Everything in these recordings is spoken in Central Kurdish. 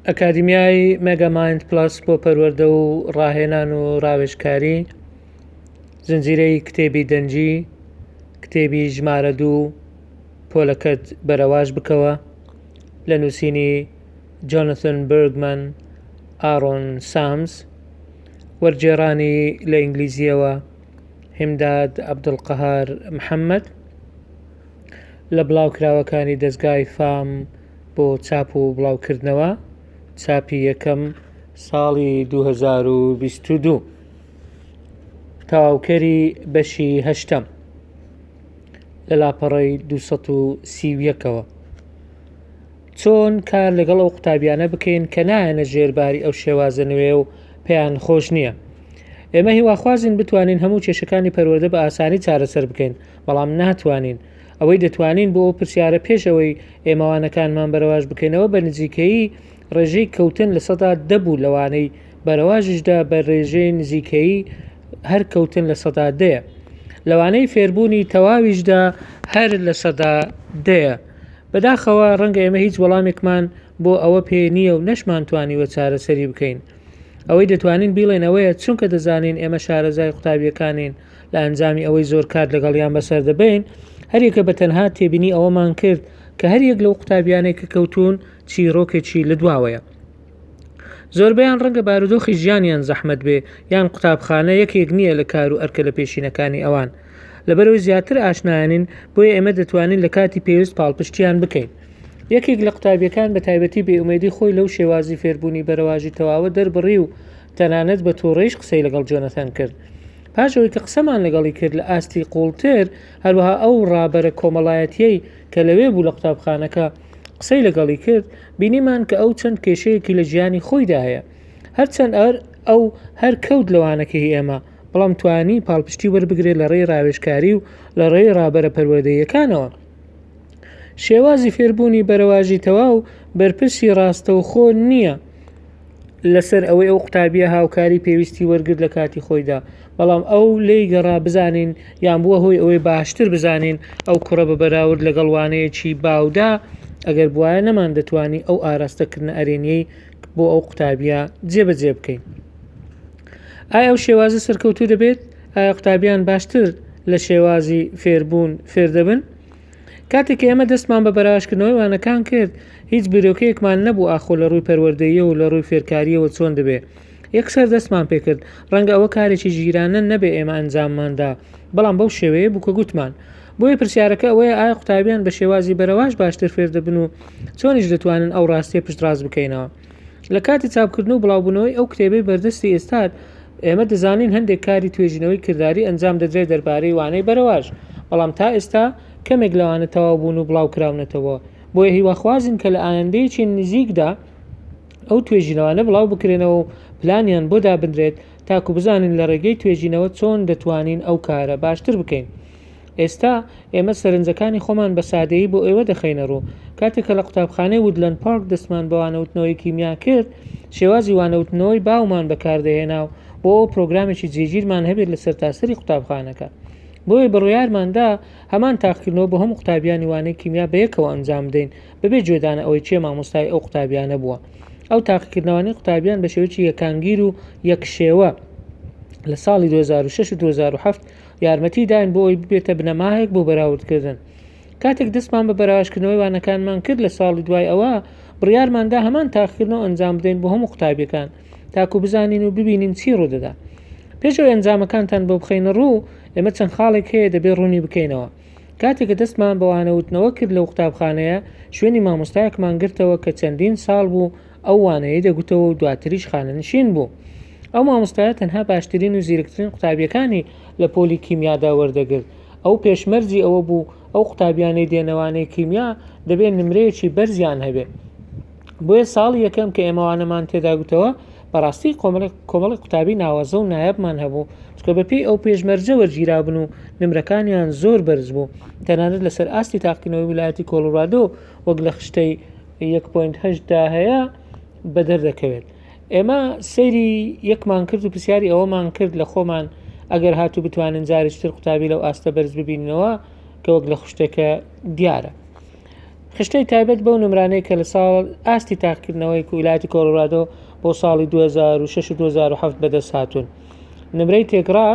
ئەکادیمیای مێگامایند پڵەس بۆ پەروەردە و ڕاهێنان و ڕاوێژکاری، زنجیرەی کتێبی دەنگی، کتێبی ژمارە دوو، پۆلەکەت بەرەواش بکەوە، لە نووسینی جۆنەسن بێرگمەن، ئارۆن سامس، وەرگێڕانی لە ئینگلیزییەوە، هیمداد عەبدولقەهار محەمەد. لە بڵاوکراوەکانی دەزگای فام بۆ چاپ و بڵاوکردنەوە، چاپی یەکەم، ساڵی 2022. تەواوکەری بەشی هەشتەم، لە لاپەڕەی 231ەوە. چۆن کار لەگەڵ ئەو قوتابیانە بکەین کە نایەنە ژێر باری ئەو شێوازە نوێ و پێیان خۆش نییە؟ ئێمە هیواخوازین بتوانین هەموو کێشەکانی پەروەردە بە ئاسانی چارەسەر بکەین، بەڵام ناتوانین ئەوەی دەتوانین بۆ ئەو پرسیارە پێش ئەوەی ئێمەوانەکانمان بەرەواش بکەینەوە بە نزیکەیی ڕێژەی کەوتن لە سەدا دەبوو لەوانەی بەرەواژیشدا بە ڕێژەی نزیکەیی هەر کەوتن لە سەدا دەیە لەوانەی فێربوونی تەواویشدا هەر لە سەدا دەیە بەداخەوە ڕەنگە ئێمە هیچ وەڵامێکمان بۆ ئەوە پێ نییە و نەشمان توانیوە چارەسەری بکەین ئەوەی دەتوانین بیڵێن ئەوەیە چونکە دەزانین ئێمە شارەزای قوتابیەکانین لە ئەنجامی ئەوەی زۆر کات لەگەڵیان بەسەر دەبەین، هەریەکە بە تەنها تێبینی ئەوەمان کرد کە هەریەک لەو قوتابیانەی کە کەوتوون چیرۆکێکی لدواوەیە. زۆربەیان ڕەنگە بارودۆخی ژیانیان زەحمەت بێ یان قوتابخانە یەکێک نییە لە کار و ئەرکە لە پێشینەکانی ئەوان. لەبەرەوەی زیاتر ئاشنایانین بۆیە ئێمە دەتوانین لە کاتی پێویست پاڵپشتیان بکەین. یەکێک لە قوتابیەکان بە تایبەتی بێ ئومێدی خۆی لەو شێوازی فێربوونی بەرەواژی تەواوە دەربڕی و تەنانەت بە توڕەیش قسەی لەگەڵ جۆنەثان کرد. پاش ئەوەی کە قسەمان لەگەڵی کرد لە ئاستی قووڵتر، هەروەها ئەو ڕابەرە کۆمەڵایەتییەی کە لەوێ بوو لە قوتابخانەکە قسەی لەگەڵی کرد، بینیمان کە ئەو چەند کێشەیەکی لە ژیانی خۆیدا هەیە. هەرچەند ئەو هەر کەوت لە وانەکەی ئێمە، بەڵام توانی پاڵپشتی وەربگرێت لە ڕێی ڕاوێژکاری و لە ڕێی ڕابەرە پەروەردەییەکانەوە. شێوازی فێربوونی بەرەواژی تەواو بەرپرسی ڕاستەوخۆ نییە، لەسەر ئەوەی ئەو قوتابیە هاوکاری پێویستی وەرگرت لە کاتی خۆیدا بەڵام ئەو لی گەڕا بزانین یان بووە هۆی ئەوەی باشتر بزانین ئەو کوڕە بە بەراورد لەگەڵ وانەیەکی باودا ئەگەر بواە نەمان دەتوانی ئەو ئاراستەکردنە ئەرێنیەی بۆ ئەو قوتابیە جێبەجێ بکەین ئایا ئەو شێوازە سەرکەوتو دەبێت ئایا قوتابیان باشتر لە شێوازی فێربوون فێر دەبن کاتێک کە ئێمە دەستمان بە بەراژکردنەوەی وانەکان کرد هیچ بیرۆکەیەکمان نەبوو ئاخۆ لە ڕووی پەروەردەیە و لە ڕووی فێرکاریەوە چۆن دەبێ یەکسەر دەستمان پێکرد ڕەنگە ئەوە کارێکی ژیرانە نەبێ ئێمە ئەنجامماندا بەڵام بەو شێوەیە بوو کە گوتمان بۆیە پرسیارەکە ئەوەیە ئایا قوتابیان بە شێوازی بەرەواش باشتر فێر دەبن و چۆنیش دەتوانن ئەو ڕاستیە پشتڕاست بکەینەوە لە کاتی چاپکردن و بڵاوبوونەوەی ئەو کتێبەی بەردەستی ئێستات، ئێمە دەزانین هەندێک کاری توێژینەوەی کرداری ئەنجام دەدرێت دەربارەی وانەی بەرەواژ، بەڵام تا ئێستا کەمێک لەوانە تەواو بوون و بڵاوکراونەتەوە، بۆیە هیواخوازین کە لە ئایەندەیەکی نزیکدا ئەو توێژینەوانە بڵاو بکرێنەوە و پلانیان بۆ دابنرێت تاکو بزانین لە ڕێگەی توێژینەوە چۆن دەتوانین ئەو کارە باشتر بکەین. ئێستا ئێمە سەرنجەکانی خۆمان بە سادەیی بۆ ئێوە دەخەینە ڕوو کاتێک کە لە قوتابخانەی ودلەند پارک دەستمان بە وانەوتنەوەی کیمیا کرد شێوازی وانەوتنەوەی باومان بەکاردەهێنا و بۆ ئەو پرۆگرامێکی جێگیرمان هەبێت لە سەرتاسەری قوتابخانەکە بۆیە بڕیارماندا هەمان تاقکردنەوە بۆ هەموو قوتابیانی وانەی کیمیا بەیەکەوە ئەنجام بدەین بەبێ جێدانە ئەوەی چێ مامۆستای ئەو قوتابیانە بووە ئەو تاقیکردنەوانی قوتابیان بە شێوەیەکی یەکانگیر و یەکشێوە لە ساڵی 2006 و 2007 یارمەتی داین بۆ ئەوی ببێتە بنەماهێک بۆ بەراوردکردن کاتێک دەستمان بە بەراوشکردنەوەی وانەکانمان کرد لە ساڵی دوای ئەوە بڕیارماندا هەمان تاقیکردنەوە ئەنجام بدەین بۆ هەموو قوتابیەکان تاکو بزانین و ببینین چی ڕوودەدا پێشەوە ئەنجامەکانتان بۆ بخینە ڕوو ئێمە چەند خاڵێک هەیە دەبێ ڕوونی بکەینەوە کاتێکە دەستمان بەوانەوتنەوە کرد لەو قوتابخانەیە شوێنی مامۆستایەکمان گرتەوە کە چەندین ساڵ بوو ئەو وانەیەی دەگوتەوە و دواتریش خانەنشین بوو. ئەو مامۆستایە تەنها باشترین و زیرکترین قوتابیەکانی لە پۆلی کیمیادا وەردەگرت. ئەو پێشمەرجی ئەوە بوو ئەو قوتابیانەی دێنەوانەی کیمیا دەبێ نمرەیەکی بەرزیان هەبێ. بۆیە ساڵی یەکەم کە ئێمە وانەمان تێدا گوتەوە بەڕاستی کۆمەڵێک قوتابی ناوازە و نایابمان هەبوو چونکە بەپێی ئەو پێشمەرجە وەرگیرابن و نمرەکانیان زۆر بەرز بوو تەنانەت لەسەر ئاستی تاقیکردنەوەی ویلایەتی کۆڵۆرادۆ وەک لە خشتەی یەک پوینت هەشتدا هەیە بە دەردەکەوێت ئێمە سەیری یەکمان کرد و پرسیاری ئەوەمان کرد لە خۆمان ئەگەر هاتو بتوانین جارشتر قوتابی لەو ئاستە بەرز ببینەوە کە وەک لە خشتەکە دیارە خشتەی تایبەت بەو نمرانەی کە لە ساڵ ئاستی تاقکردنەوەی کویلاتی کۆلرادۆ بۆ ساڵی 2006 2007 بەدەست هاتوون نمرەی تێکڕا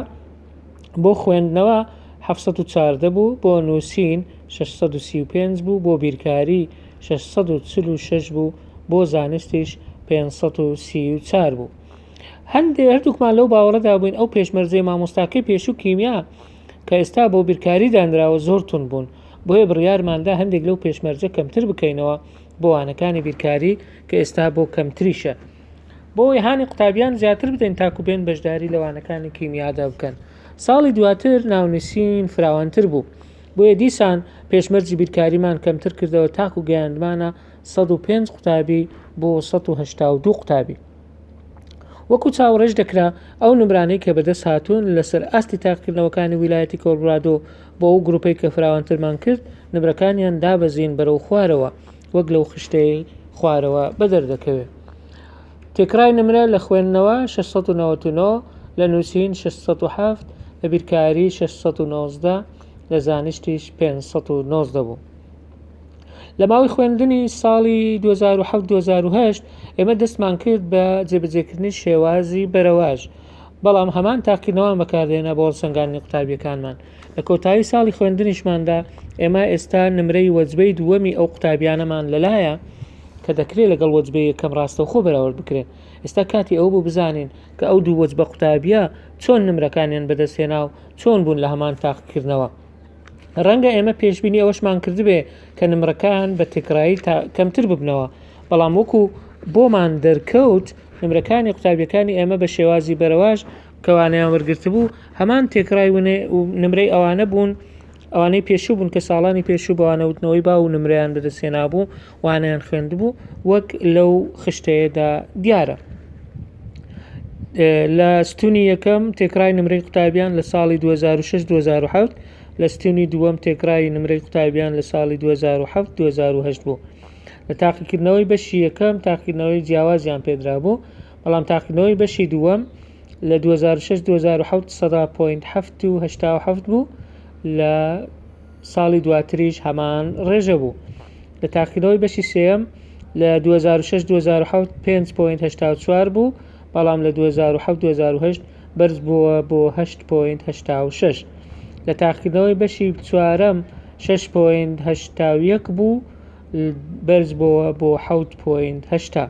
بۆ خوێندنەوە 1940 بوو بۆ نووسین 635 بوو بۆ بیرکاری شەش سەد و چل و شەش بوو بۆ زانستیش پێنج سەد و سی و چار بوو هەندێ هەردووکمان لەو باوەڕەدا بووین ئەو پێشمەرجەی مامۆستاکەی پێشوو کیمیا کە ئێستا بۆ بیرکاری دانراوە زۆر تون بوون بۆیە بڕیارماندا هەندێک لەو پێشمەرجە کەمتر بکەینەوە بۆ وانەکانی بیرکاری کە ئێستا بۆ کەمتریشە بۆی هانی قوتابیان زیاتر بدەین تاکو بێن بەشداری لەوانەکانی کیمیادا بکەن ساڵی دواتر ناونووسین فراوانتر بوو بۆیە دیسان پێشمەرجی بیرکاریمان کەمتر کردەوە تاکو گەیاندمانە سەد و پێنج قوتابی بۆ سەد و هەشتا و دوو قوتابی. وەکو چاوەڕێش دەکرا ئەو نمرانەی کە بەدەست هاتوون لەسەر ئاستی تاقیکردنەوەکانی ویلایەتی کۆلڕادۆ بۆ ئەو گروپەی کە فراوانترمان کرد نمرەکانیان دابەزین بەرەو خوارەوە وەک لەو خشتەی خوارەوە بەدەر دەکەوێت. تێکڕای نمرە لە خوێندنەوە 699 لە نووسین 607 لە بیرکاری 619 لە زانستیش پێنج سەد و نۆزدە بوو. لە ماوەی خوێندنی ساڵی 2007-2008 ئێمە دەستمان کرد بە جێبەجێکردنی شێوازی بەرەواژ بەڵام هەمان تاقینەوان بەکاردێنا بۆ هەڵسەنگاندنی قوتابیەکانمان لە کۆتایی ساڵی خوێندنیشماندا ئێمە ئێستا نمرەی وەجبەی دووەمی ئەو قوتابیانەمان لەلایە کە دەکرێت لەگەڵ وەجبەیە کەم ڕاستەوخۆ بەراورد بکرێت ئێستا کاتی ئەو بوو بزانین کە ئەو دوو وەجبە قوتابیە چۆن نمرەکانیان بەدەستێنا و چۆن بوون لە هەمان تاقیکردنەوە ڕەنگە ئێمە پێشببینی ئەوەشمان کردبێ کە نمرەکان بە تێکرایی تا کەمتر ببنەوە بەڵام وەکو بۆمان دەرکەوت نمرەکانی قوتابیەکانی ئێمە بە شێوازی بەرەواش کەوانەیان وەرگرتبوو هەمان تێکرای ونێ و نمرەی ئەوانە بوون ئەوانەی پێشوو بوون کە ساڵانی پێشوو بە وانەوتنەوەی باو و نمرەیان بەدەستێنابوو وانەیان خوێندبوو وەک لەو خشتەیەدا دیارە لە ستونی یەکەم تێکرای نمرەی قوتابیان لە ساڵی 2006 2007 لە ستونی دووەم تێکرای نمرەی قوتابیان لە ساڵی 2007 2010 بوو لە تاقیکردنەوەی بەشی یەکەم تاقیکردنەوەی جیاوازیان پێدرا بوو بەڵام تاقیکردنەوەی بەشی دووەم لە دوو هەزار و شەش دوو هەزار و حەوت سەدا پۆینت حەفت و هەشتا و حەفت بوو لە ساڵی دواتریش هەمان ڕێژە بوو لە تاقیکردنەوەی بەشی سێەم لە 2006 2007 5.84 بوو بەڵام لە 2007 2008 بەرز بووە بۆ 8.86 لە تاقیکردنەوەی بەشی چوارەم 6.81 بوو بەرز بووە بۆ 7.80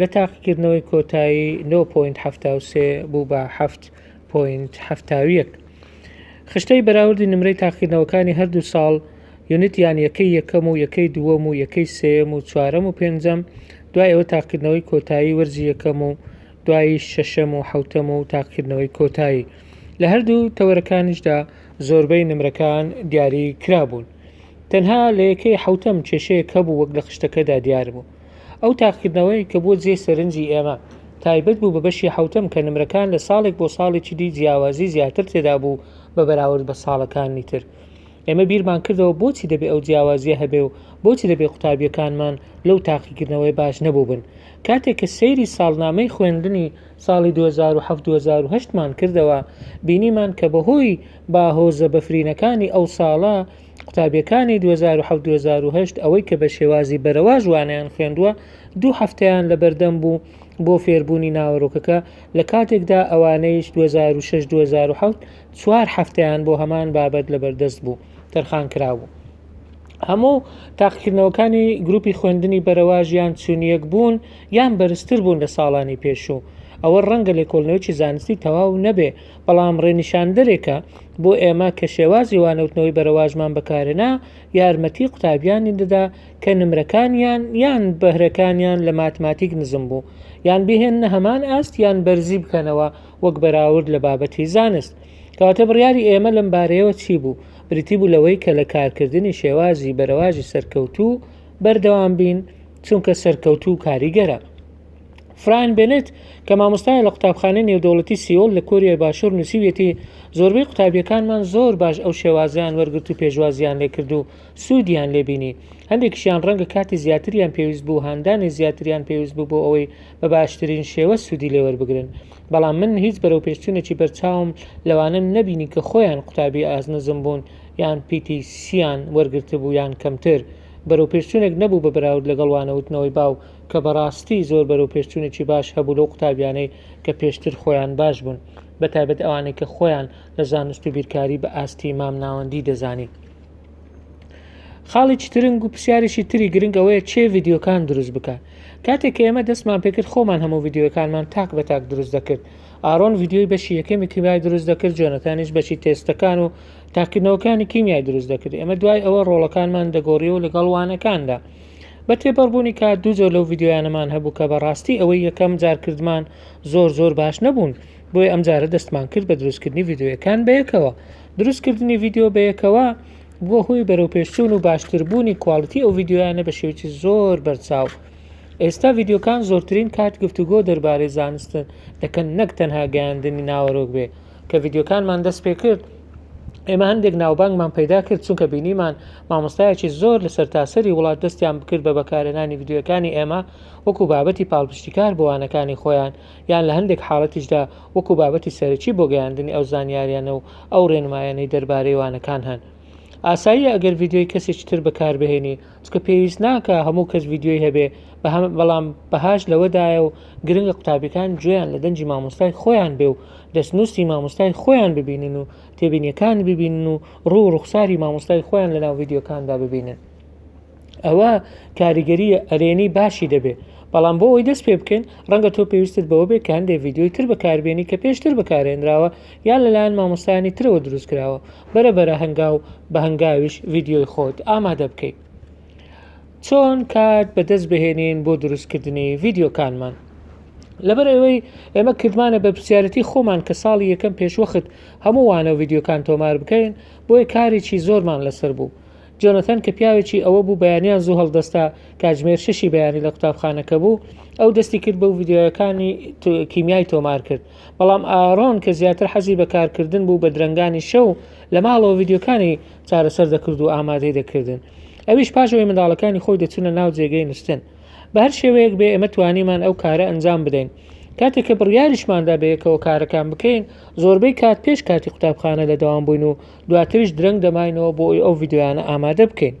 لە تاقیکردنەوەی کۆتایی نۆ پۆینت حەفتا و سێ بوو بە حەفت پۆینت حەفتا و یەک. خشتەی بەراوردی نمرەی تاقیکردنەوەکانی هەردوو ساڵ یونتیان یەکەی یەکەم و یەکەی دووەم و یەکەی سێیەم و چوارەم و پێنجەم دوای ئەوە تاقیکردنەوەی کۆتایی وەرزی یەکەم و دواییش شەشەم و حەوتەم و تاقیکردنەوەی کۆتایی لە هەردوو تەوەرەکانیشدا زۆربەی نمرەکان دیاری کرابوون تەنها لە یەکەی حەوتەم کێشەیەک هەبوو وەک لە خشتەکەدا دیار بوو ئەو تاقیکردنەوەیە کە بووە جێی سەرنجی ئێمە، تایبەت بوو بە بەشی حەوتەم کە نمرەکان لە ساڵێک بۆ ساڵێکی دی جیاوازی زیاتر تێدا بوو بە بەراورد بە ساڵەکانی تر. ئێمە بیرمان کردەوە بۆچی دەبێ ئەو جیاوازیە هەبێ و بۆچی دەبێ قوتابیەکانمان لەو تاقیکردنەوەیە باش نەبووبن. کاتێک کە سەیری ساڵنامەی خوێندنی ساڵی دوو هەزار و حەفت دوو هەزار و هەشت مان کردەوە بینیمان کە بەهۆی باهۆزە بەفرینەکانی ئەو ساڵە قوتابیەکانی دوو هەزار و حەوت دوو هەزار و هەشت ئەوەی کە بە شێوازی بەرەواژ وانەیان خوێندووە دوو هەفتەیان لە بەردەم بوو بۆ فێربوونی ناوەرۆکەکە لە کاتێکدا ئەوانەیش 2006 2007 چوار هەفتەیان بۆ هەمان بابەت لە بەردەست بوو تەرخان کرابوو هەموو تاقیکردنەوەکانی گروپی خوێندنی بەرەواژیان چونیەک بوون یان بەرزتر بوون لە ساڵانی پێشوو ئەوە ڕەنگە لێکۆڵنەوەی زانستی تەواو نەبێ بەڵام ڕێنیشاندەرێکە بۆ ئێمە کە شێوازی وانەوتنەوەی بەرەواژمان بەکارێنا یارمەتی قوتابیانی دەدا کە نمرەکانیان یان بەهرەکانیان لە ماتماتیک نزم بوو یان بهێنە هەمان ئاست یان بەرزی بکەنەوە وەک بەراورد لە بابەتی زانست کەواتە بڕیاری ئێمە لەم بارەیەوە چی بوو بریتی بوو لەوەی کە لە کارکردنی شێوازی بەرەواژی سەرکەوتوو بەردەوام بین چونکە سەرکەوتوو کاریگەرە فرایان بێنێت کە مامۆستایە لە قوتابخانەی نێودەوڵەتی سیۆل لە کۆریای باشوور نووسیویەتی زۆربەی قوتابیەکانمان زۆر باش ئەو شێوازەیان وەرگرت و پێشوازیان لێکرد و سوودیان لێبینی هەندێکیشیان ڕەنگە کاتی زیاتریان پێویست بوو هاندانی زیاتریان پێویست بوو بۆ ئەوەی بە باشترین شێوە سوودی لێوەربگرن بەڵام من هیچ بەرەوپێشچوونێکی بەرچاوم لەوانە نەبینی کە خۆیان قوتابی ئاست نزم بوون یان پیتی سیان وەرگرتبوو یان کەمتر بەرەوپێشچوونێک نەبوو بە بەراورد لەگەڵ وانەوتنەوەی باو کە بەڕاستی زۆر بەرەوپێشچوونێکی باش هەبوو لەو قوتابیانەی کە پێشتر خۆیان باش بوون، بەتایبەت ئەوانەی کە خۆیان لە زانست و بیرکاری بە ئاستی مام ناوەندی دەزانی. خاڵێکی ترنگ و پرسیارێکی تری گرنگ ئەوەیە چێ ڤیدیۆکان دروست بکات کاتێک کە ئێمە دەستمان پێکرد خۆمان هەموو ڤیدیۆکانمان تاک بە تاک دروست دەکرد ئارۆن ڤیدیۆی بەشی یەکەمی کیمیای دروست دەکرد جۆنەتانیش بەشی تێستەکان و تاکردنەوەکانی کیمیای دروست دەکرد ئێمە دوای ئەوە ڕۆڵەکانمان دەگۆڕیەوە لەگەڵ وانەکاندا بە تێپەڕبوونی کات دوو جۆر لەو ڤیدیۆیانەمان هەبوو کە بەڕاستی ئەوەی یەکەم جار کردمان زۆر زۆر باش نەبوون بۆیە ئەم جارە دەستمان کرد بە دروستکردنی ڤیددیوەکان بەیەکەوە دروستکردنی ڤیددیو بەیەکەوە بووە هۆی بەرەو پێشچوون و باشتربوونی کوالڵتی ئەو ڤیددیویانە بە شێوکی زۆر بەرچاو ئێستا ڤیددیوکان زۆرترین کات گفتوگۆ دەربارەی زانستن دەکەن نەک تەنها گەیاندنی ناوەرۆک بێ کە ڤیدیۆکانمان دەست پێ کرد ئێمە هەندێک ناوبانگمان پەیدا کرد چونکە بینیمان مامۆستایەکی زۆر لە سەرتاسەری وڵات دەستیان بکرد بە بەکارێنانی ڤیدیۆکانی ئێمە وەکو بابەتی پاڵپشتیکار بۆوانەکانی خۆیان یان لە هەندێک حاڵەتیشدا وەکو بابەتی سەرەکی بۆ گەیاندنی ئەو زانیاریانە و ئەو ڕێنمایانەی دەربارەی وانەکان هەن ئاساییە ئەگەر ڤیدیۆی کەسێکی تر بەکاربهێنی چونکە پێویست ناکا هەموو کەس ڤیدیۆی هەبێ بەهەم بەڵام بەهاش لەوەدایە و گرنگە قوتابیەکان گوێیان لە دەنجی مامۆستای خۆیان بێ و دەستنووسی مامۆستای خۆیان ببینن و تێبینیەکان ببینن و ڕوو ڕوخساری مامۆستای خۆیان لە ناو ڤیددیوکاندا ببینن ئەوە کاریگەری ئەرێنی باشی دەبێ بەڵام بۆ ئەوی دەست پێ بکەین ڕەنگە تۆ پێویستت بەوە بێ کە هەندێک ڤیددیوی تر بەکاربیێنی کە پێشتر بەکارێنراوە یان لەلایەن مامۆستایانی ترەوە دروست کراوە بەرە بەرە هەنگاو بە هەنگاویش ڤیدیۆی خۆت ئامادە بکەیت چۆن کات بەدەست بهێنین بۆ دروستکردنی ڤیددیوکانمان لەبەر ئەوەی ئێمە کردمانە بە پرسیارەتی خۆمان کە ساڵی یەکەم پێشوەخت هەمووانە و ڤیددیوکان تۆمار بکەین بۆیە کارێکی زۆرمان لەسەر بوو جۆنەتەن کە پیاوێکی ئەوە بوو بەیانیان زوو هەڵدەستا کاژمێر شەشی بەیانی لە قوتابخانەکە بوو ئەو دەستی کرد بە ڤیددیوەکانی کیمیای تۆمار کرد بەڵام ئارۆن کە زیاتر حەزی بە کارکردن بوو بە درەنگانی شەو لە ماڵەوە ڤیدیۆکانی چارەسەر دەکرد و ئامادەی دەکردن ئەویش پاشەوەی منداڵەکانی خۆی دەچونە ناو جێگەی نوستن بە هەر شێوەیەک بێ ئێمە توانیمان ئەو کارە ئەنجام بدەین کاتێک کە بڕیاریشماندا بەیەکەوە کارەکان بکەین زۆربەی کات پێش کاتی قوتابخانە لە داوام بووین و دواتریش درەنگ دەماینەوە بۆ ئەو ڤیددیویانە ئامادە بکەین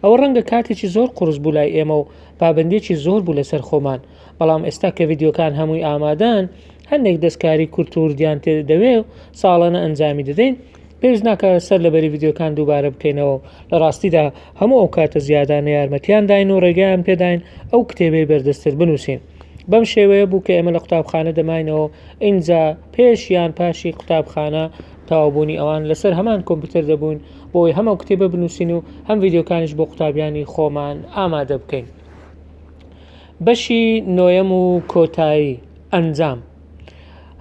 ئەوە ڕەنگە کاتێکی زۆر قرس بوو لای ئێمە و پابندێکی زۆر بوو لەسەر خۆمان بەڵام ئێستا کە ڤیدیۆکان هەمووی ئامادەن هەندێک دەستکاری کورت و وردیان تێ دەوێ و ساڵانە ئەنجامی دەدەین پێش ناکە سەر لە بەری ڤیددیوکان دووبارە بکەینەوە لە ڕاستیدا هەموو ئەو کاتە زیادانە یارمەتیان داین و ڕێگەیان پێداین ئەو کتێبەی بەردەستتر بنووسین بەم شێوەیە بوو کە ئێمە لە قوتابخانە دەماینەوە ئینجا پێش یان پاشی قوتابخانە تاوابوونی ئەوان لەسەر هەمان کۆمپیوتەر دەبوون بۆی هەمە کتێبە بنووسین و هەم ڤیددیوکانیش بۆ قوتابیانی خۆمان ئامادە بکەین. بەشی نۆیەم و کۆتایی، ئەنجام.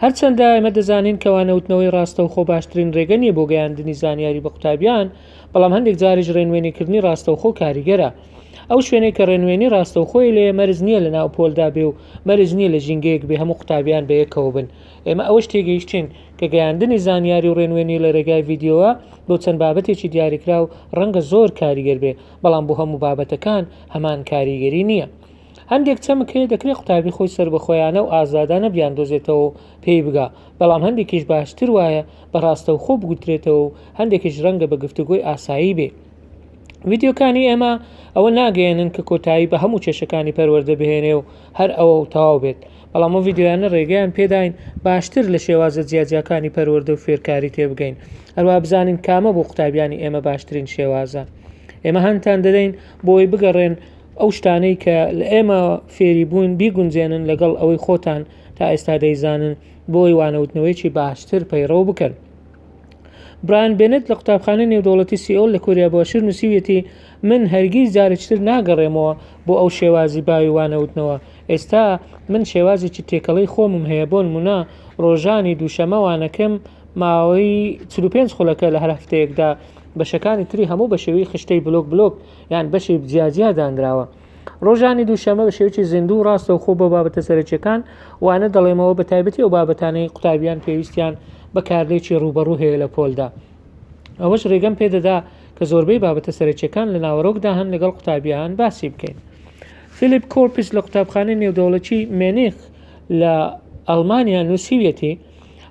هەرچەندە ئێمە دەزانین کەوا نەوتنەوەی ڕاستەوخۆ باشترین ڕێگە نییە بۆ گەیاندنی زانیاری بە قوتابیان، بەڵام هەندێک جاریش ڕێنوێنیکردنی ڕاستەوخۆ کاریگەرە. ئەو شوێنەی کە ڕێنوێنی ڕاستەوخۆی لێیە مەرج نییە لە ناو پۆلدا بێ و مەرج نییە لە ژینگەیەک بێ هەموو قوتابیان بە یەکەوە بن. ئێمە ئەوەش تێگەیشتین کە گەیاندنی زانیاری و ڕێنوێنی لە ڕێگای ڤیدیۆوە بۆ چەند بابەتێکی دیاریکراو ڕەنگە زۆر کاریگەر بێ، بەڵام بۆ هەموو بابەتەکان هەمان کاریگەری نییە. هەندێک چەمک هەیە دەکرێت قوتابی خۆی سەربەخۆیانە و ئازادانە بیاندۆزێتەوە و پێی بگا، بەڵام هەندێکیش باشتر وایە بە ڕاستەوخۆ بگوترێتەوە و هەندێکیش ڕەنگە بە گفتوگۆی ئاسایی بێ. ڤیدیۆکانی ئێمە ئەوە ناگەیەنن کە کۆتایی بە هەموو کێشەکانی پەروەردە بهێنێ و هەر ئەوە و تەواو بێت، بەڵام ئەو ڤیدیۆیانە ڕێگەیان پێداین باشتر لە شێوازە جیاجیاکانی پەروەردە و فێرکاری تێبگەین، هەروەها بزانین کامە بۆ قوتابیانی ئێمە باشترین شێوازە. ئێمە هانتان دەدەین بۆی بگەڕێن ئەو شتانەی کە لە ئێمە فێری بوون بیگونجێنن لەگەڵ ئەوەی خۆتان تا ئێستا دەیزانن بۆی وانەوتنەوەیەکی باشتر پەیڕەو بکەن. برایان بێنێت لە قوتابخانەی نێودەوڵەتی سیئۆل لە کۆریا باشوور نووسیویەتی من هەرگیز جارێکتر ناگەڕێمەوە بۆ ئەو شێوازی باوی وانەوتنەوە ئێستا من شێوازێکی تێکەڵەی خۆمم هەیە بۆن منە ڕۆژانی دووشەمە وانەکەم ماوەی 45 خولەکە لە هەر هەفتەیەکدا بەشەکانی تری هەموو بە شێوەی خشتەی بلۆک بلۆک یان بەشی جیاجیا دانراوە ڕۆژانی دووشەمە بە شێوکی زیندوو و ڕاستەوخۆ بۆ بابەتە سەرەکیەکان وانە دەڵێمەوە بە تایبەتی ئەو بابەتانەی قوتابیان پێویستیان بە کارلێکی ڕوبەڕوو هەیە لە پۆلدا ئەوەش ڕێگەم پێدەدا کە زۆربەی بابەتە سەرەکیەکان لە ناوەڕۆکدا هەن لەگەڵ قوتابیان باسی بکەین فیلیپ کۆرپس لە قوتابخانەی نێودەوڵەتی مێنیخ لە ئەڵمانیا نووسیویەتی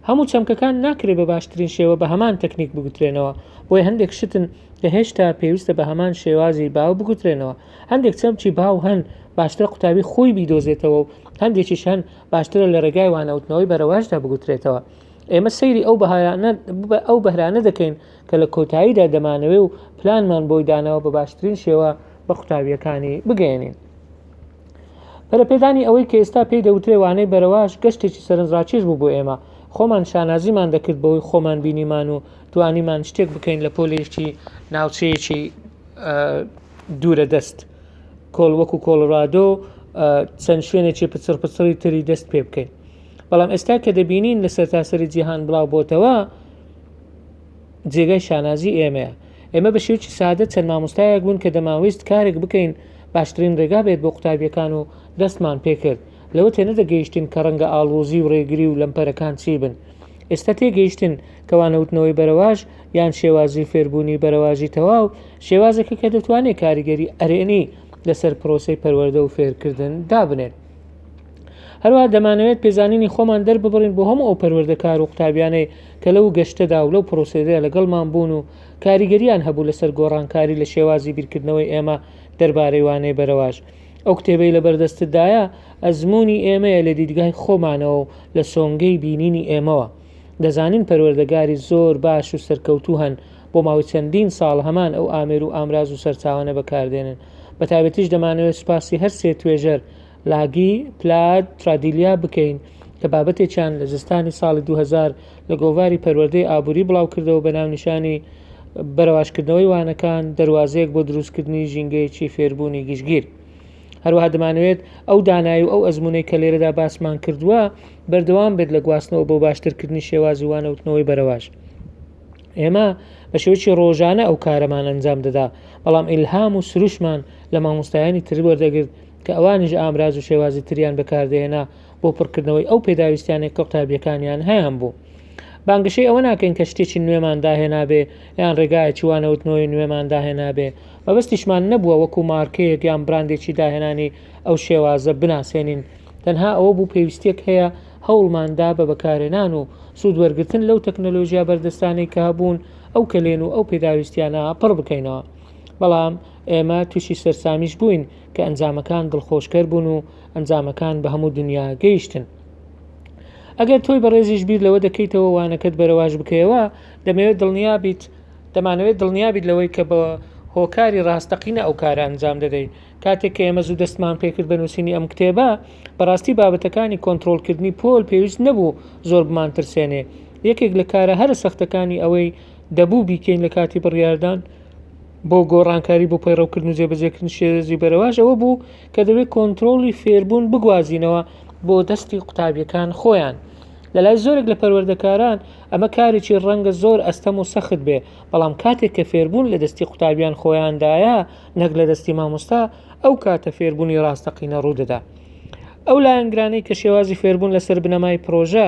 هەموو چەمکەکان ناکرێ بە باشترین شێوە بە هەمان تەکنیک بگوترێنەوە، بۆیە هەندێک شتن کە هێشتا پێویستە بە هەمان شێوازی باو بگوترێنەوە، هەندێک چەمکی باو هەن باشترە قوتابی خۆی بیدۆزێتەوە و هەندێکیش هەن باشترە لە ڕێگای وانەوتنەوەی بەرەوەشدا بگوترێتەوە. ئێمە سەیری ئەو بەهارانە ئەو بەهرانە دەکەین کە لە کۆتاییدا دەمانەوێ و پلانمان بۆی داناوە بە باشترین شێوە بە قوتابییەکانی بگەیەنین. پەرەپێدانی ئەوەی کە ئێستا پێی دەوترێ وانەی بەرەواش گەشتێکی سەرنجڕاکێش بوو بۆ ئێمە خۆمان شانازیمان دەکرد بەوەی خۆمان بینیمان و توانیمان شتێک بکەین لە پۆلێکی ناوچەیەکی دوورە دەست کۆڵ وەکو کۆڵڕادۆ چەند شوێنێکی پچڕ پچڕی تری دەست پێ بکەین بەڵام ئێستا کە دەبینین لە سەرتاسەری جیهان بڵاو بۆتەوە جێگای شانازی ئێمەیە ئێمە بە شێوکی سادە چەند مامۆستایەک بوون کە دەماویست کارێک بکەین باشترین ڕێگا بێت بۆ قوتابیەکان و دەستمان پێکرد لەوە تێنە دەگەیشتین کە ڕەنگە ئاڵۆزی و ڕێگری و لەمپەرەکان چی بن ئێستا تێگەیشتن کەوانەوتنەوەی بەرەواش یان شێوازی فێربوونی بەرەواژی تەواو شێوازەکە کە دەتوانێت کاریگەری ئەرێنی لەسەر پرۆسی پەروەردە و فێرکردن دابنێت هەروەها دەمانەوێت پێزانینی خۆمان دەرببڕین بۆ هەموو ئەو پەروەردەکار و قوتابیانەی کە لەو گەشتەدا و لەو پرۆسەیەدا لەگەڵمان بوون و کاریگەریان هەبوو لەسەر گۆڕانکاری لە شێوازی بیرکردنەوەی ئێمە دەربارەی وانەی بەرەواژ. ئەو کتێبەی لەبەردەستتدایە ئەزموونی ئێمەیە لە دیدگای خۆمانەوە و لە سۆنگەی بینینی ئێمەوە. دەزانین پەروەردەگاری زۆر باش و سەرکەوتوو هەن بۆ ماوەی چەندین ساڵ هەمان ئەو ئامێر و ئامراز و سەرچاوانە بەکاردێنن. بەتایبەتیش دەمانەوێت سوپاسی هەر سێ توێژەر، لاگی پلاد ترادیلیا بکەین کە بابەتێکیان لە زستانی ساڵی 2000 لە گۆڤاری پەروەردەی ئابووری بڵاوکردەوە بە ناونیشانی بەرەواشکردنەوەی وانەکان دەروازەیەک بۆ دروستکردنی ژینگەیەکی فێربوونی گشتگیر هەروەها دەمانوێت ئەو دانایی و ئەو ئەزمونەی کە لێرەدا باسمان کردووە بەردەوام بێت لە گواستنەوە بۆ باشترکردنی شێوازی وانەوتنەوەی بەرەواش ئێمە بە شێوکی ڕۆژانە ئەو کارەمان ئەنجام دەدا بەڵام ئیلهام و سروشمان لە مامۆستایانی تر وەردەگرت کە ئەوانیش ئامراز و شێوازی تریان بەکاردەهێنا بۆ پڕکردنەوەی ئەو پێداویستیانێک کە قوتابیەکانیان هەیان بوو. بانگەشەی ئەوە ناکەین کە شتێکی نوێمان داهێنابێ یان ڕێگایەکی وانەوتنەوەی نوێمان داهێنابێ مەبەستیشمان نەبووە وەکو مارکەیەک یان براندێکی داهێنانی ئەو شێوازە بناسێنین تەنها ئەوە بوو پێویستێک هەیە هەوڵماندا بە بەکارێنان و سوود وەرگتن لەو تەکنەلۆژیا بەردەستانەی کە هەبوون ئەو کەلێن و ئەو پێداویستیانە پڕ بکەینەوە بەڵام ئێمە تووشی سەرسامیش بووین کە ئەنجامەکان دڵخۆشکەر بوون و ئەنجامەکان بە هەموو دنیا گەیشتن. ئەگەر تۆی بەڕێزیش بیر لەوە دەکەیتەوە وانەکەت بەرەواش بکەیەوە، دەمەوێت دڵنیا بیت دەمانەوێت دڵنیا بیت لەوەی کە بە هۆکاری ڕاستەقینە ئەو کارە ئەنجام دەدەیت. کاتێک کە ئێمە زوو دەستمان پێکرد بە نووسینی ئەم کتێبە، بەڕاستی بابەتەکانی کۆنتڕۆڵکردنی پۆل پێویست نەبوو زۆر بمانترسێنێ. یەکێک لە کارە هەرە سەختەکانی ئەوەی دەبوو بیکەین لە کاتی بڕیاردان، بۆ گۆڕانکاری بۆ پەیڕەوکردن و جێبەجێکردن شێرێزی بەرەواش ئەوە بوو کە دەبێت کۆنتترۆلی فێربوون بگوازینەوە بۆ دەستی قوتابیەکان خۆیان لە لای زۆرێک لە پەروەردەکاران ئەمە کارێکی ڕەنگە زۆر ئەستەم و سەخت بێ بەڵام کاتێک کە فێربوون لە دەستی قوتابیان خۆیاندایە نەک لە دەستی مامۆستا ئەو کاتە فێربوونی ڕاستەقینە ڕوودەدا ئەو لایەنگرانەی کە شێوازی فێربوون لەسەر بنەمای پرۆژە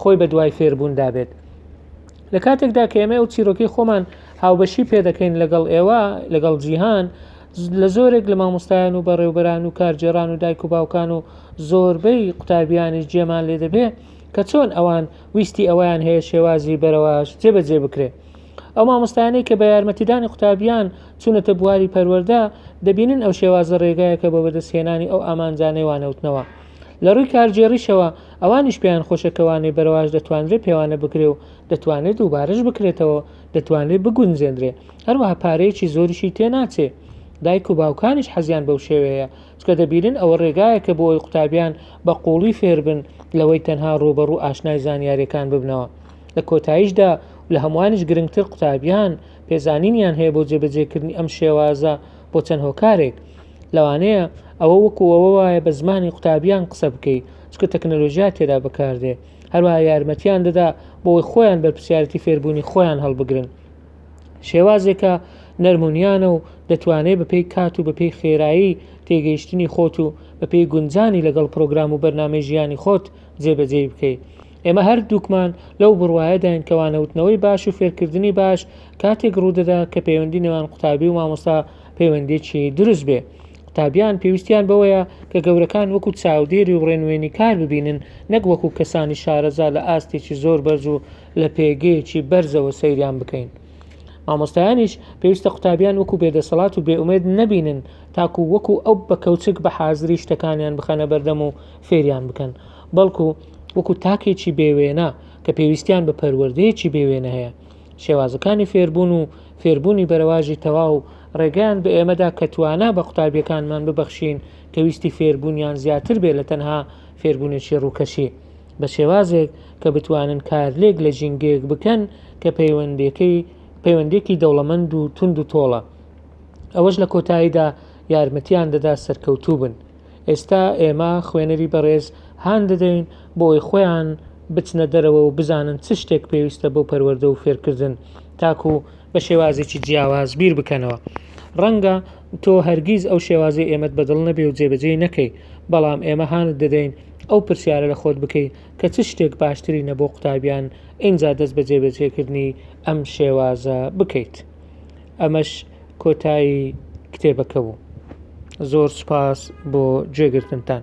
خۆی بە دوای فێربووندا بێت لە کاتێکدا کە ئێمە ئەو چیرۆکی خۆمان هاوبەشی پێدەکەین لەگەڵ ئێوە لەگەڵ جیهان لە زۆرێک لە مامۆستایان و بەڕێوبەران و کارجێران و دایک و باوکان و زۆربەی قوتابیانی جێمان لێ دەبێ کە چۆن ئەوان ویستی ئەویان هەیە شێوازی بەرەواش جێبەجێ بکرێت ئەو مامۆستایانەی کە بە یارمەتیدانی قوتابیان چونەتە بواری پەروەەردە دەبینن ئەو شێوازە ڕێگایەکە بە بەدەستهێنانی ئەو ئامانجانەی وانەوتنەوە لە ڕووی کارگێڕیشەوە ئەوانیش پێیان خۆشە کە وانەی بەرەواش دەتوانرێ پێوانە بکرێ و دەتوانێت دووبارەش بکرێتەوە دەتوانرێ بگونجێندرێ هەروەها پارەیەکی زۆریشی تێ ناچێ دایک و باوکانیش حەزیان بەو شێوەیە چکە دەبیرن ئەوە ڕێگایەکە بۆ ئەوی قوتابیان بە قوڵی فێربن لەوەی تەنها ڕوبەڕوو ئاشنای زانیارەکان ببنەوە لە کۆتاییشدا لە هەمووانیش گرنگتر قوتابیان پێزانینیان هەیە بۆ جێبەجێکردنی ئەم شێوازە بۆ چەند هۆکارێک لەوانەیە ئەوە وەکو ئەوە وایە بە زمانی قوتابیان قسە بکەی چکە تەکنەلۆژیا تێدا بەکاردێ هەروە یارمەتیان دەدا بۆی خۆیان بەرپسیارەتی فێربوونی خۆیان هەڵبگرن شێوازێکە نەرمونیانە و دەتوانێت بەپی کات و بەپی خێرایی تێگەیشتنی خۆت و بەپی گونجانی لەگەڵ پرۆگرام و بەرنامی ژیانی خۆت جێبەجێی بکەیت ئێمە هەردووکمان لەو بڕوایەداین کە وانەوتنەوەی باش و فێرکردنی باش کاتێک ڕوودەدا کە پەیوەندی نێوان قوتابی و مامۆستا پەیوەندێکی دروست بێ قوتابیان پێویستیان بەوەیە کە گەورەکان وەکو چاودێری و ڕێنوێنی کار ببینن نەک وەکو کەسانی شارەزا لە ئاستێکی زۆر بەرز و لە پێگەیەکی بەرزەوە سەیریان بکەین مامۆستایانیش پێویستە قوتابیان وەکو بێدەسەڵات و بێئومێد نەبینن تاکو وەکو ئەو بە کەوچک بە حازری شتەکانیان بخەنە بەردەم و فێریان بکەن بەڵکو وەکو تاکێکی بێ وێنە کە پێویستیان بە پەروەردەیەکی بێ وێنە هەیە شێوازەکانی فێربوون و فێربوونی بەرەواژی تەواو ڕێگەیان بە ئێمەدا کە توانا بە قوتابیەکانمان ببەخشین کە ویستی فێربوونیان زیاتر بێ لە تەنها فێربوونێکی ڕووکەشی بە شێوازێک کە بتوانن کارلێک لە ژینگەیەک بکەن کە پەیوەندەکەی پەیوەندێکی دەوڵەمەند و تونند و تۆڵە ئەوەش لە کۆتاییدا یارمەتیان دەدا سەرکەوتوو بن ئێستا ئێمە خوێنەری بەڕێز هان دەدەین بۆ ئەوەی خۆیان بچنە دەرەوە و بزانن چ شتێک پێویستە بۆ پەروەردە و فێرکردن تاکو بە شێوازێکی جیاواز بیر بکەنەوە ڕەنگە تۆ هەرگیز ئەو شێوازی ئێمەت بەدڵ نەبێ و جێبەجێی نەکەی بەڵام ئێمە هانت دەدەین ئەو پرسیارە لە خۆت بکەی کە چ شتێک باشتری نەبۆ قوتابیان ئینجا دەست بە جێبەجێکردنی ئەم شێوازە بکەیت. ئەمەش کۆتایی کتێبەکە بوو زۆر سوپاس بۆ گوێگرتنتان.